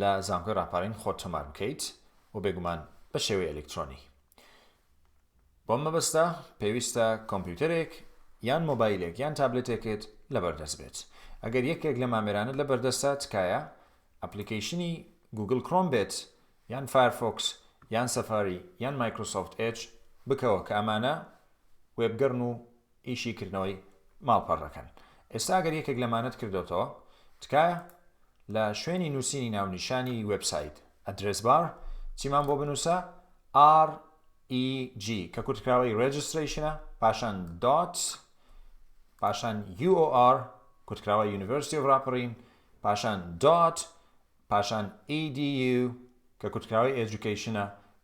لە زانکۆی ڕاپارین خۆت تۆمار بکەیت و بێگومان بە شێوەی ئەلکترۆنی بۆم مەبەستە پێویستە کۆمپیوتەرێک یان مۆبایلێک یان تابلێتێکت لەبەردەست بێت ئەگەر یەکێک لە مامێرانت لە بەردەستە تکایە ئەپلیکیشنی گوگل کرۆم بێت یان فایرفۆکس یان سەفاری یان مایکرۆسۆفت ئێج بکەوە کە ئەمانە وێبگەڕن و ئیشی کردنەوەی ماڵپەڕ دەکەن ئێستا گەر یەکێک لەمانەت کردۆتەوە تکایە لە شوێنی نووسینی ناونیشانی وێب سایت ئەدرێس بار چیمان بۆ بنووسە R EG کە کورتکراوەی Registration پاشان دات پاشان UOR کورتکراوە University of Raparin پاشان دات پاشان EDU کە کورتکراوەی Education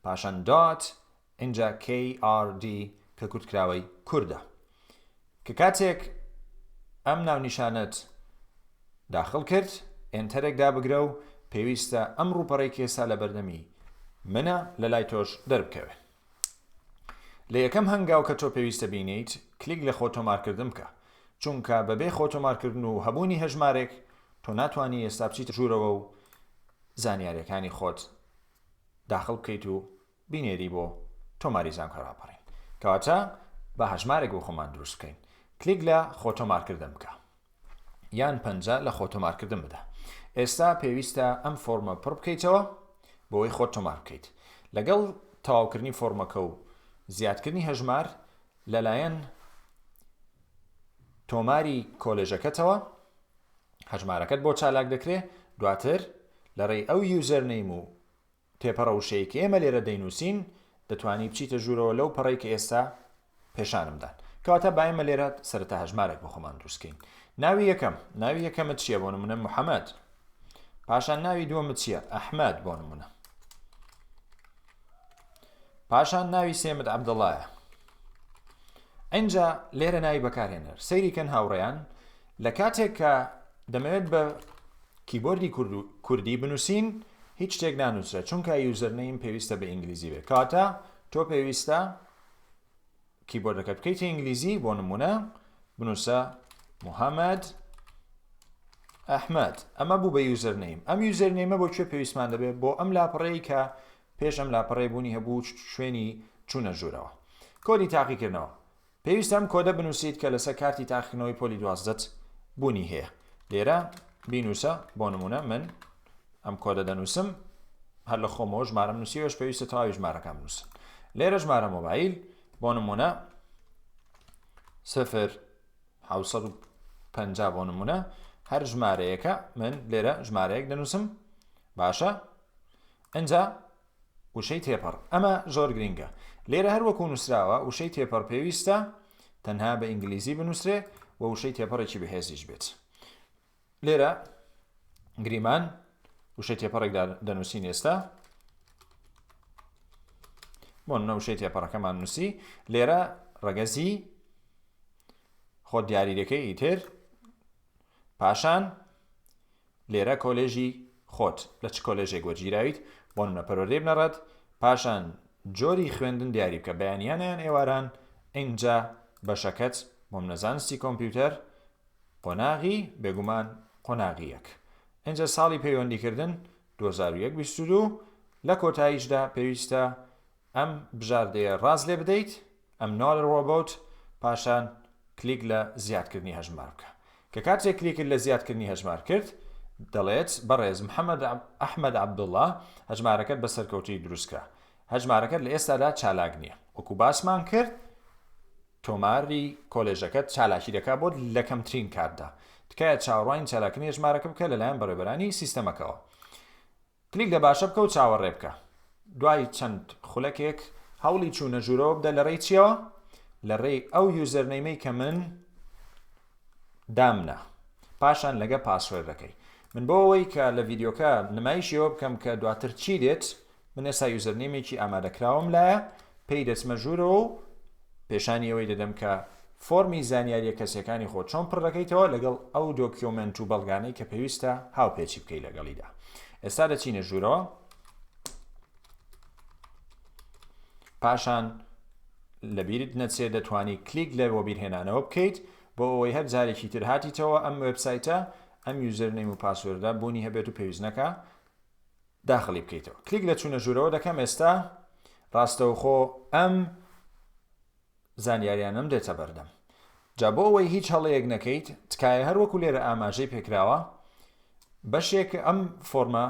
پاشان دات ئینجا KRD کە کورتکراوەی کوردە. کە کاتێک ئەم ناونیشانەت داخل کرد، ئێنتەرێک دابگرە و پێویستە ئەم ڕووپەڕەی کە ئێستا لەبەردەمی منە لە لای تۆش دەربکەوێ. لە یەکەم هەنگاو کە تۆ پێویستە بینێیت، کلیک لە خۆتۆمارکردن بکە، چونکە بەبێ خۆتۆمارکردن و هەبوونی هەژمارێک، تۆ ناتوانی ئێستا بچیتە ژوورەوە و زانیارییەکانی خۆت داخل بکەیت و بینێری بۆ تۆماری زانکۆ ڕاپەڕین کەواتە با هەژمارێک بۆ خۆمان دروست بکەین کلیک لە خۆ تۆمارکردن بکە یان پەنجە لە خۆ تۆمارکردن بدە ئێستا پێویستە ئەم فۆرمە پڕ بکەیتەوە بۆی خۆ تۆمار بکەیت لەگەڵ تەواوکردنی فۆرمەکە و زیادکردنی هەژمار لەلایەن تۆماری کۆلێژەکەتەوە هەژمارەکەت بۆ چالاک دەکرێت دواتر لە ڕێی ئەو یوزەرنەیم و پێپەڕە وشەیەی کە ئێمە لێرە دەینووسین، دەتوانی بچیتە ژوورەوە لەو پەڕەی کە ئێستا پێشانم دان. کەواتە با ئێمە لێرە سەرەتا هەژمارێک بۆ خۆمان دروست کەین. ناوی یەکەم، ناوی یەکەمت چییە؟ بۆ نموونە محەمەد. پاشان ناوی دووەمت چییە؟ ئەحمەد بۆ نموونە. پاشان ناوی سێمت عەبدەڵایە. ئەینجا لێرە ناوی بەکارهێنەر سەیریکەن هاوڕێیان لە کاتێک کە دەمەوێت بە کیبۆردی کورد و کوردی بنوسین هیچ شتێک نانوسرێ چونکە یوزەرنەیم پێویستە بە ئینگلیزی بێ کەواتە تۆ پێویستە کیبۆردەکە بکەیتە ئینگلیزی بۆ نمونە بنوسە محەممەد ئەحمد ئەمە بوو بە یوزەرنەیم ئەم یوزەرنەیمە بۆ کوێ پێویستمان دەبێت بۆ ئەم لاپەڕەیە کە پێش ئەم لاپەڕێ بوونی هەبوو شوێنی چوونە ژوورەوە کۆدی تاقیکردنەوە پێویستە ئەم کۆدە بنووسیت کە لەسەر کارتی تاقیکردنەوەی پۆلی دوازدەت بوونی هەیە لێرە بینووسە بۆ نمونە من ئەم کۆدە دەنووسم هەر لە خۆمەوە ژمارەم نووسیوەش پێویستە تەواوی ژمارەکەم نووسن لێرە ژمارە مۆبایل بۆ نمونە سفر حوسەد و پ بۆ نمونە هەر ژمارەیەەکە من لێرە ژمارەیەک دەنووسم باشە ئەجا وشەی تێپەڕ، ئەمە زۆر گرینگە، لێرە هەر وەکوو نووسراوە، وشەی تێپەڕ پێویستە تەنها بە ئینگلیزی بنووسرێ و وشەی تێپەڕێکی بەهێزیش بێت. لێرە گریمان وشەی تێپەڕێک دەنووسین ئێستا، بۆ نەوشەی تێپەڕەکەمان نووسی لێرە ڕەگەزی خۆ دیاریەکەی ئیتر پاشان لێرە کۆلێژی خۆت لە چ کۆلێژێک وەرگیراویت بۆ نمونە پەروەردەی بنەڕەت پاشان جۆری خوێندن دیاری بکە بەیانیانە یان ئێواران ئینجا بەشەکەت بۆ منە زانستی کۆمپیوتەر قۆناغی بێگومان قۆناغی یەک ئینجا ساڵی پەیوەندیکردن 2021 لە کۆتاییشدا پێویستە ئەم بژاردەیە ڕاست لێ بدەیت، Another Robot، پاشان کلیک لە زیادکردنی هەژمار بکە. کە کاتێک کلیکت لە زیادکردنی هەژمار کرد، دەڵێت، بەڕێز محەمەد ئەحمەد عەبدوڵا، هەژمارەکەت بە سەرکەوتوویی دروستکرا. هەژمارەکەت لە ئێستادا چالاک نییە. وەکو باسمان کرد، تۆماری کۆلێژەکەت چالاکی دەکات بۆت لە کەمترین کاتدا. تکایە چاوەڕوانی چالاکردنی هەژمارەکە بکە لەلایەن بەڕێوەبەرانی سیستەمەکەوە. کلیک دە باشە بکە و چاوەڕێ بکە دوای چەند خولەکێک هەوڵی چوونە ژوورەوە بدە لە ڕێی چیەوە لە ڕێی ئەو یوزەرنەیمەی کە من دامنا پاشان لەگە پاسوەردەکەی من بۆ ئەوەی کە لە ڤیددیوکە نمایشیەوە بکەم کە دواتر چی دێت من ئێستا یوزەرنیمێکی ئامادەکراوم لایە پێی دەچمە ژوورەوە و پێشانی ئەوەی دەدەم کە فۆرمی زانیاریە کەسیەکانی خۆت چۆن پڕ دەکەیتەوە لەگەڵ ئەو دۆکیۆمێنت و بەڵگانەی کە پێویستە هاوپێچی بکەی لەگەڵیدا ئێستا دەچینە ژوورەوە پاشان لەبیرت نەچێت دەتوانی کلیک لە وەبیرهێنانەوە بکەیت بۆ ئەوەی هەر جارێکی تر هاتیتەوە ئەم وبسایتە ئەم یوزەر نەیم و پاسوردە بوونی هەبێت و پێویستنەکە داخلی بکەیتەوە کلیک لە چوونە ژوورەوە دەکەم ئێستا ڕاستەوخۆ ئەم زانیاریانم دێتە بەردەم جا بۆ ئەوەی هیچ هەڵەیەک نەکەیت تکایە هەر وەکو لێرە ئاماژەی پێکراوە بەشێک ئەم فۆرمە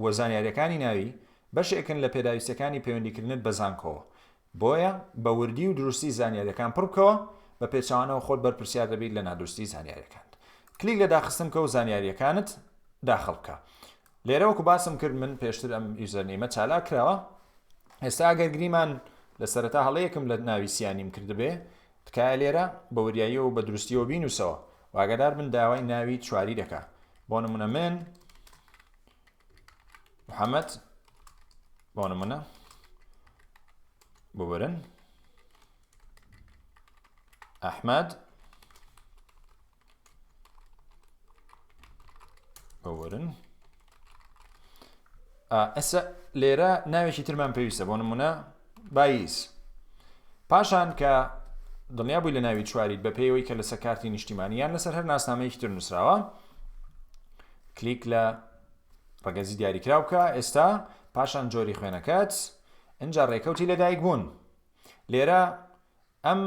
وە زانیاریەکانی ناوی بەشێکن لە پێداویستەکانی پەیوەندیکردنت بە زانکۆوە بۆیە بە وردی و دروستی زانیاریەکان پڕ بکەوە، بە پێچەوانەوە خۆت بەرپرسیار دەبیت لە نادروستی زانیاریەکانت. کلیک لە داخستن بکە و زانیاریەکانت داخل بکە. لێرە وەکو باسم کرد من پێشتر ئەم یوزەرنەیمە چالاک کراوە، ئێستا ئەگەر گریمان لە سەرەتا هەڵەیەکم لە ناوی سیانیم کردبێ، تکایە لێرە بە وریاییەوە و بە دروستیەوە بینوسەوە و ئاگادار بن داوای ناوی چواری دەکا. بۆ نمونە من. محەممەد بۆ نمونە ببرن ئەحمد ببرن ئەسە لێرە ناوێکی ترمان پێویستە بۆ نمونە بایز. پاشان کە دڵنیا بووی لە ناوی چواریت بە پێیەوەی کە لەسەر کارتی نیشتیمانی یان لەسەر هەر ناسنامەیەکی تر نووسراوە کلیک لە ڕگەزی دیاریکرا بکە ئێستا پاشان جۆری خوێنەکەت ئەجا ڕێکەوتی لەدایک بوون لێرە ئەم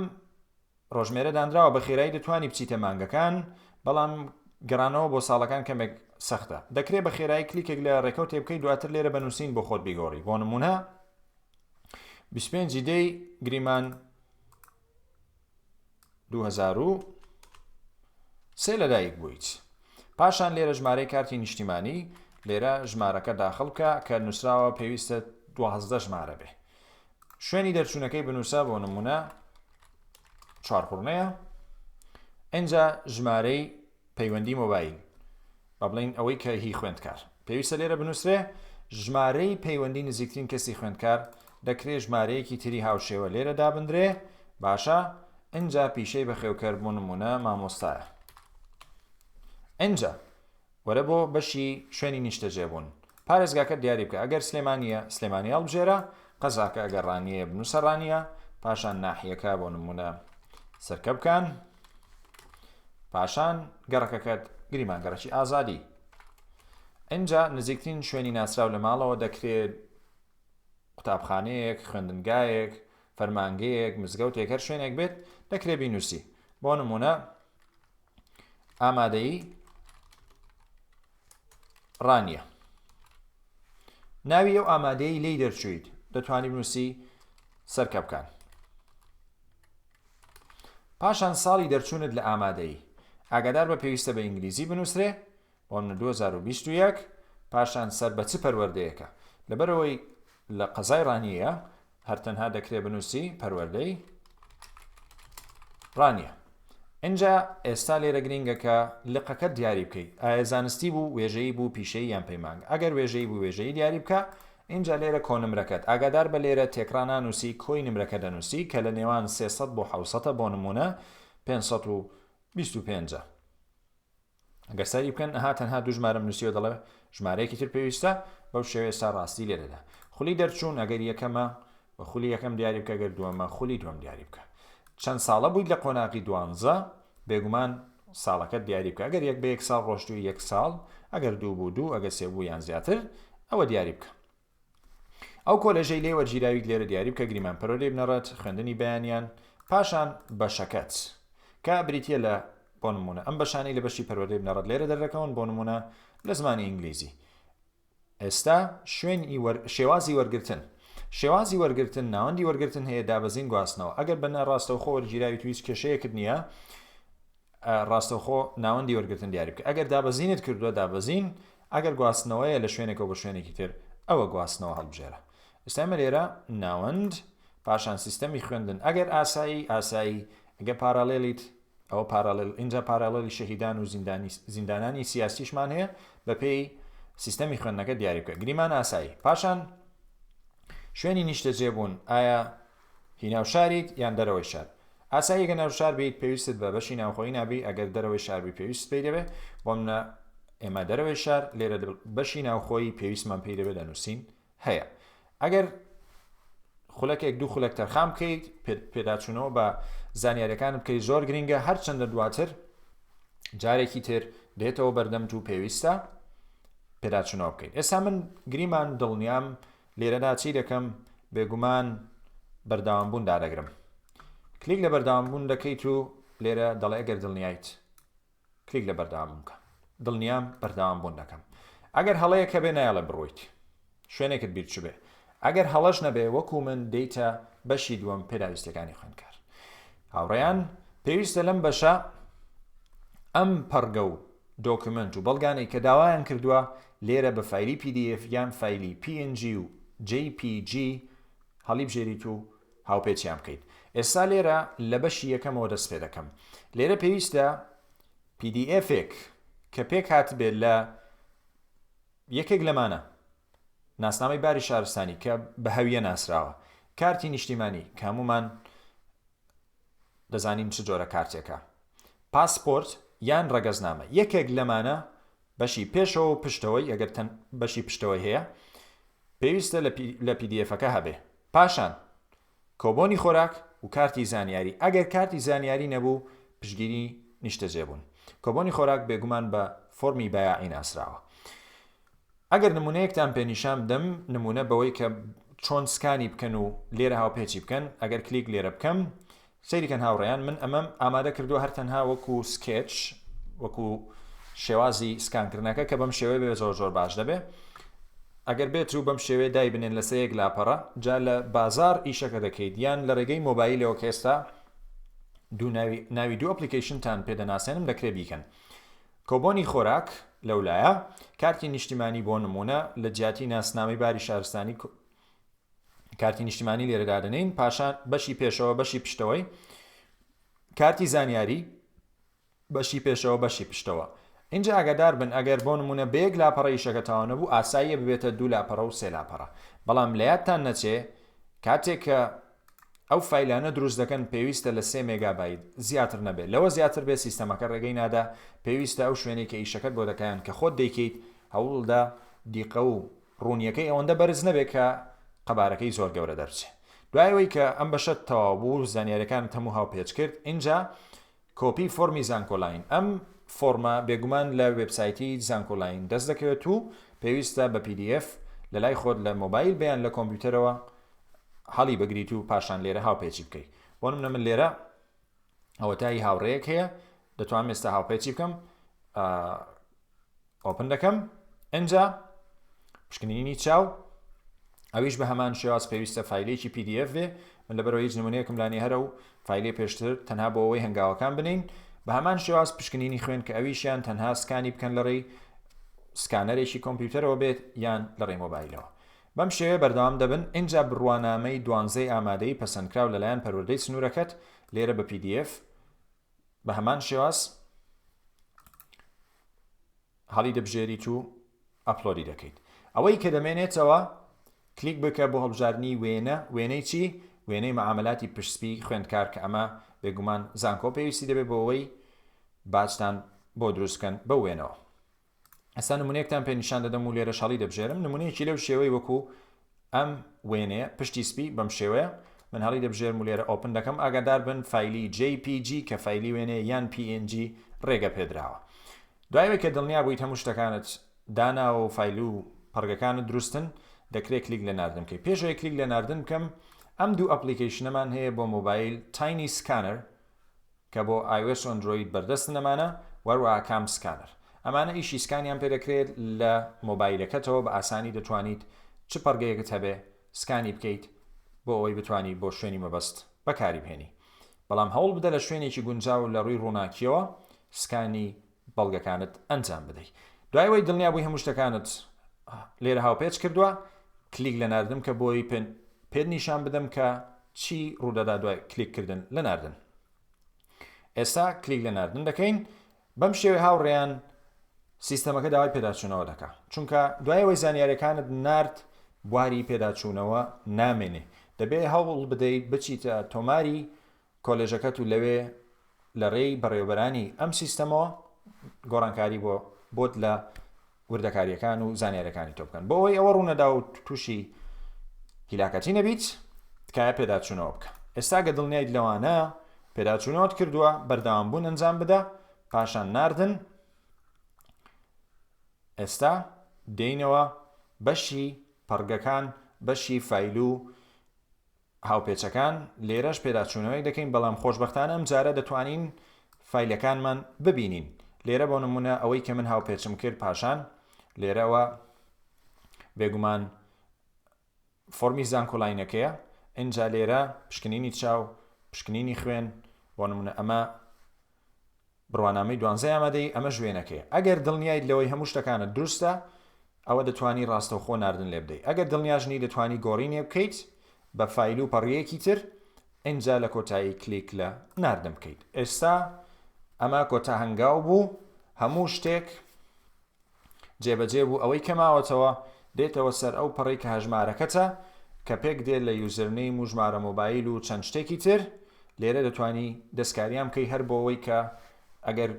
ڕۆژمێرە دانراوە بە خێرایی دەتوانی بچیتە مانگەکان بەڵام گەڕانەوە بۆ ساڵەکان کەمێک سەختە دەکرێت بە خێرایی کلیکێک لە ڕێکەوت تێبکەی دواتر لێرە بە نووسین بۆ خۆت بیگۆڕی بۆ نمونە 25 دەی گریمان 2000 سێ لەدایک بوویت پاشان لێرە ژمارەی کارتی نیشتیمانی لێرە ژمارەکە داخڵکە کە نووسراوە پێویستە دوازدە ژمارە بێ شوێنی دەرچوونەکەی بنووسە بۆ نمونە چوارخوڕنەیە ئەجا ژمارەی پەیوەندی مۆبایل با بڵین ئەوەی کە هی خوێندکار پێویستە لێرە بنووسێ ژمارەی پەیوەندی نزیکترین کەسی خوێندکار دەکرێت ژمارەیەکی تری هاوشێوە لێرە دابدرێ باشە ئەجا پیشەی بەخێوکەر بۆ نمونە مامۆستایە ئەجا وەرە بۆ بەشی شوێنی نیشتەجێ بوون پارێزگاکەت دیاری بکە ئەگەر سلێمانیە سلێمانی هەڵبژێرە قەزاکە ئەگەر ڕانیەیە بنوسە ڕانیە پاشان ناحیەکە بۆ نمونە سەرکەبکان پاشان گەڕەکەکەت گریمان گەڕەکی ئازادی ئەجا نزیکترین شوێنی ناسراو لە ماڵەوە دەکرێت قوتابخانەیەک خوێندنگایەک فەرمانگەیەک مزگەوتێک هەر شوێنێک بێت دەکرێ بینوسی بۆ نمونە ئامادەی ڕانیە ناوی ئەو ئامادەی لی دەرچویت دەتوانانی بنووسی سەرکە بکەن پاشان ساڵی دەرچوونت لە ئامادەی ئاگادار بە پێویستە بە ئینگلیزی بنووسێ ئۆن دوو هەزار و بیست و یەک، پاشان سەر بە چ پەروەردەیەکە؟ لەبەرئەوەی لە قەزای ڕانیە، هەر تەنها دەکرێ بنووسی پەروەردەی ڕانیە. ئینجا ئێستا لێرە گرینگە کە لقەکەت دیاری بکەی، ئایا زانستی بوو، وێژەیی بوو، پیشەیی یان پەیمانگە؟ ئەگەر وێژەیی بوو وێژەیی دیاری بکە، ئینجا لێرە کۆنمرەکەت، ئاگادار بە لێرە تێکڕا نانووسی کۆی نمرەکە دەنووسی کە لە نێوان سێ سەد بۆ حەوت سەدە بۆ نموونە پێنج سەد و بیست و پێنج ە. ئەگەر سەیری بکەن ئەها تەنها دوو ژمارەم نووسیوە دەڵێ ژمارەیەکی تر پێویستە بەو شێوەیە ئێستا ڕاستی لێرەدا خولی دەرچوون ئەگەر یەکەمە و خولی یەکەم دیاری بکە گەر دووەمە خولی دووەم دیاری بکە چەند ساڵە بوویت لە قۆناغی دوانزە بێگومان ساڵەکەت دیاری بکە ئەگەر یەک بە یەک ساڵ ڕۆشتوی یەک ساڵ ئەگەر دوو بوو دوو ئەگەر سێ بوو یان زیاتر ئەوە دیاری بکە ئەو کۆلێژەی لێی وەرگیراویت لێرە دیاری بکە گریمان پەرۆ لێی بنەڕەت خوێندنی بەیانیان پاشان بەشەکەت کە بریتە لە بۆ نمونە ئەم بەشانەی لە بەشی پەروەردەی بنەڕەت لێرە دەردەکەون بۆ نمونە لە زمانی ئینگلیزی ئێستا شوێن شێوازی وەرگتن شێوازی وەرگتن ناوەندی وەرگتن هەیە دابەزین گواستنەوە ئەگەر بەنە ڕاستەوخۆ وەرگیراوی تویست کێشەیەکرد نییە ڕاستەوخۆ ناوەندی وەرگرتن دیاری بکە ئەگەر دابەزینت کردووە دابەزین ئەگەر گواستنەوەیە لە شوێنێکەوە بۆ شوێنێکی تر ئەوە گواستنەوە هەڵبژێرە ئێستا ئێمە لێرە ناوەند پاشان سیستەمی خوێندن ئەگەر ئاسایی ئاسایی ئەگەر پارالێلیت ئەوە پارالێل ئینجا پارالێلی شەهیدان و زیندانی زیندانانی سیاسیشمان هەیە بەپێی سیستەمی خوێندنەکە دیاری بکە گریمان ئاسایی پاشان شوێنی نیشتەجێ بوون ئایا هی ناو شاریت یان دەرەوەی شار؟ ئاساییە گەر ناو شار بیت پێویستت بە بەشی ناوخۆیی نابی ئەگەر دەرەوەی شار بی پێویستت پێی دەبێ بۆ منە ئێمە دەرەوەی شار لێرە بەشی ناوخۆیی پێویستمان پێی دەبێت لە نووسین هەیە ئەگەر خولەکێک دوو خولەک تەرخان بکەیت پێداچوونەوە بە زانیارەکان بکەی زۆر گرنگە هەرچەندە دواتر جارێکی تر دێتەوە بەردەمت و پێویستە پێداچوونەوە بکەیت ئێستا من گریمان دڵنیام لێرەدا چی دەکەم؟ بێگومان بەردەوامبوون دادەگرم. کلیک لە بەردەوامبوون دەکەیت و لێرە دەڵێ ئەگەر دڵنیایت کلیک لە بەردەوامبوون بکە. دڵنیام بەردەوامبوون دەکەم. ئەگەر هەڵەیەک هەبێ نایەڵێ بڕۆیت. شوێنێکت بیر چبێ. ئەگەر هەڵەش نەبێ وەکو من دێیتە بەشی دووەم پێداویستیەکانی خوێندکار. هاوڕێیان پێویستە لەم بەشە ئەم پەڕگە و دۆکومێنت و بەڵگانەی کە داوایان کردووە لێرە بە فایلی پی دی ئێف یان فایلی پی ئێن جی و جەی پی جی هەڵیبژێریت و هاوپێچیان بکەیت ئێستا لێرە لە بەشی یەکەمەوە دەست پێ دەکەم لێرە پێویستە پی دی ئێفێک کە پێک هاتبێت لە یەکێک لەمانە ناسنامەی باری شارستانی کە بە هەویە ناسراوە کارتی نیشتیمانی کامومان دەزانین چ جۆرە کارتێکە پاسپۆرت یان ڕەگەزنامە یەکێک لەمانە بەشی پێشەوە و پشتەوەی ئەگەر تەن بەشی پشتەوەی هەیە پێویستە لە پیدیێفەکە هەبێ پاشان کۆبۆنی خۆراک و کارتی زانیاری ئەگەر کارتی زانیاری نەبوو پشگیری نیشتەجێبوون کۆبۆنی خۆراک بێگومان بە فۆرمی بایاعی ناسراوە ئەگەر نمونەیەکتان پێ نیشان بدەم نمونە بەوەی کە چۆن سکانی بکەن و لێرە هاوپێچی بکەن ئەگەر کلیک لێرە بکەم سەیری کەن هاوڕێیان من ئەمەم ئامادە کردووە هەر تەنها وەکو سکێچ وەکو شێوازی سکان کردنەکە کە بەم شێوەیە بێ زۆر زۆر باش دەبێ ئەگەر بێت و بەم شێوەیە دای بنێن لەسەر یەک لاپەڕە جا لە بازاڕ ئیشەکە دەکەیت یان لە ڕێگەی مۆبایلەوە کە ئێستا دوو ناوی ناوی دوو ئەپلیکەیشنتان پێ دەناسێنم دەکرێ بیکەن کۆبۆنی خۆراک لەولایە کارتی نیشتیمانی بۆ نمونە لە جیاتی ناسنامەی باری شارستانی کارتی نیشتیمانی لێرە دادەنین پاشان بەشی پێشەوە بەشی پشتەوەی کارتی زانیاری بەشی پێشەوە بەشی پشتەوە اینجا ئاگادار بن ئەگەر بۆ نمونە بەیەک لاپەڕە یشەکە تاوا نەبوو ئاساییە ببێتە دوو لاپەڕە و سێ لاپەڕە بەڵام لە یادتان نەچێ کاتێک کە ئەو فیلانە دروست دەکەن پێویستە لە سێ مێگابیت زیاتر نەبێت لەوە زیاتر بێت سیستەمەکە ڕێگەی نادا پێویستە ئەو شوێنێک کە ئیشەکەت بۆ دەکەیان کە خۆت دەیکەیت هەوڵدا دیقە و ڕوونیەکەی ئەوەندە بەرز نەبێت کە قەبارەکەی زۆر گەورە دەربچێت. دوای ئەوەی کە ئەم بەشەت تەواو بوو و زانیاریەکانت هەموو هاوپێچ کرد ئینجا کۆپی فۆرمی زانکۆلاین ئەم فۆرمە بێگومان لە وێبسایتی زانکۆلاین دەست دەکەوێت و پێویستە بە pdf لەلای خۆت لە مۆبایل بەیان لە کۆمپیوتەرەوە هەڵی بگریت و پاشان لێرە هاوپێچی بکەیت بۆ نمونە من لێرە ئەوەتا هی هاوڕێیەک هەیە دەتوانم ئێستا هاوپێچی بکەم ئۆپن دەکەم ئەجا پشکنینی چاو ئەویش بە هەمان شێواز پێویستە فیلێکی PDF بێ من لە بەرەوە هیچ نمونەیەکم لانی هەرە و فیلێ پێشتر تەنها بۆ ئەوەی هەنگاوەکان بنین بە هەمان شێواز پشکنینی خوێن کە ئەویشیان تەنها سکانی بکەن لەڕێی سکانەرێکی کۆمپیوتەرەوە بێت یان لەڕێی مۆبایلەوە بەم شێوەیە بەردەوام دەبن، ئینجا بڕوانامەی دوانزەی ئامادەی پەسەندکراو لەلایەن پەروەردەی سنوورەکەت، لێرە بە pdf، بە هەمان شێواز هەڵیدەبژێریت و ئەپلۆدی دەکەیت. ئەوەی کە دەمێنێتەوە، کلیک بکە بۆ هەڵبژاردنی وێنە، وێنەی چی؟ وێنەی مەعامەلاتی پشتسپی خوێندکار کە ئەمە بێگومان زانکۆ پێویستی دەبێت بۆ ئەوەی باجتان بۆ دروست بکەن بەو وێنەوە. ئەسا نمونەیەکتان پێ نیشان دەدەم و لێرە شەڵی دەبژێرم نمونەیەکی لەو شێوەی وەکو ئەم وێنەیە پشتی سپی بەم شێوەیە من هەڵی دەبژێرم و لێرە ئۆپن دەکەم ئاگادار بن فیلی JPG کە فیلی وێنێ یان PNG ڕێگە پێدراوە دوایەوەی کە دڵنیا بوویت هەموو شتەکانت داناوە و فیل و پڕگەکانت دروستن دەکرێت کلیک لە ناردن بکەیت پێشەوەی کلیک لە ناردن بکەم ئەم دوو ئەپلیکیشنەمان هەیە بۆ مۆبایل تاینی سکانەر کە بۆ ئایۆس ئەندرۆید بەردەستن ئەمانە و هەروەها کام سکانەر ئەمانە ئیشی سکانیان پێ دەکرێت لە مۆبایلەکەتەوە بە ئاسانی دەتوانیت چ پەڕگەیەکت هەبێ سکانی بکەیت بۆ ئەوەی بتوانی بۆ شوێنی مەبەست بەکاری بهێنی بەڵام هەوڵ بدە لە شوێنێکی گونجاو لە ڕووی ڕووناکیەوە سکانی بەڵگەکانت ئەنجام بدەی دوای وەی دڵنیا بووی هەموو شتەکانت لێرە هاوپێچ کردووە کلیک لە ناردن کە بۆی پێن پێت نیشان بدەم کە چی ڕوودەدا دوای کلیک کردن لە ناردن ئێستا کلیک لە ناردن دەکەین بەم شێوەی هاوڕێیان سیستەمەکە داوای پێداچوونەوە دەکا چونکە دوایەوەی زانیارەکانت نرد بواری پێداچوونەوە نامێنێ دەبێ هەوڵ بدەیت بچیتە تۆماری کۆلێژەکەت و لەوێ لە رێی بەڕێوەبەرانی ئەم سیستەمەوە گۆڕانکاری بۆ بۆت لە وردەکاریەکان و زانیارەکانی تۆ بکەن بۆ ئەوەی ئەوە ڕوونەدا و تووشی هیلاکەتی نەبیت تکایە پێداچوونەوە بکە ئێستا گە دڵنیایت لەوانە پێداچوونەوەت کردووە بەردەوام بوون ئەنجام بدە پاشان ناردن ئێستا دێینەوە بەشی پەڕگەکان بەشی فیل و هاوپێچەکان، لێرەش پێداچوونەوەیەک دەکەین، بەڵام خۆشبەختانە ئەمجارە دەتوانین فایلەکانمان ببینین. لێرە بۆ نموونە ئەوەی کە من هاوپێچم کرد پاشان لێرەوە بێگومان فۆرمی زانکۆلاینەکەیە، ئینجا لێرە پشکنینی چاو، پشکنینی خوێن، بۆ نموونە ئەمە بڕوانامەی دوانزەی ئامادەیی، ئەمەش وێنەکەیە. ئەگەر دڵنیایت لەوەی هەموو شتەکانت دروستە، ئەوە دەتوانی ڕاستەوخۆ ناردن لێبدەیت. ئەگەر دڵنیاش نیت، دەتوانی گۆڕی نێبکەیت بە فایل و پەڕییەکی تر، ئینجا لە کۆتایی کلیک لە ناردن بکەیت. ئێستا ئەمە کۆتا هەنگاو بوو، هەموو شتێک جێبەجێ بوو ئەوەی کە ماوەتەوە دێتەوە سەر ئەو پەڕی کە هەژمارەکەتە کە پێک دێ لە یوزرنەیم و ژمارە مۆبایل و چەند شتێکی تر لێرە دەتوانی دەستکاریان بکەی هەر بۆوەی کە ئەگەر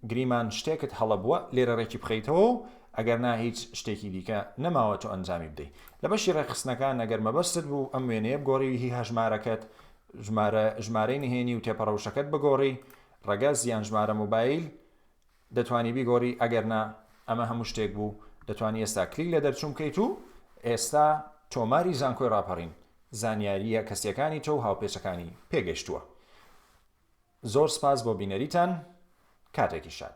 گریمان شتێکت هەڵە بووە لێرە ڕێکی بخەیتەوە و ئەگەر نا هیچ شتێکی دیکە نەماوە تۆ ئەنجامی بدەی لە بەشی ڕێکخستنەکان ئەگەر مەبەستت بوو ئەم وێنەیە بگۆڕی هی هەژمارەکەت ژمارە ژمارەی نهێنی و تێپەڕەوشەکەت بگۆڕی ڕەگەز یان ژمارە مۆبایل دەتوانی بیگۆری ئەگەر نا ئەمە هەموو شتێک بوو دەتوانی ئێستا کلیک لە دەرچوون بکەیت و ئێستا تۆماری زانکۆی ڕاپەڕین زانیارییە کەسیەکانی تۆ و هاوپێچەکانی پێگەشتووە زۆر سپاس بۆ بینەریتان کاتێکی شاد.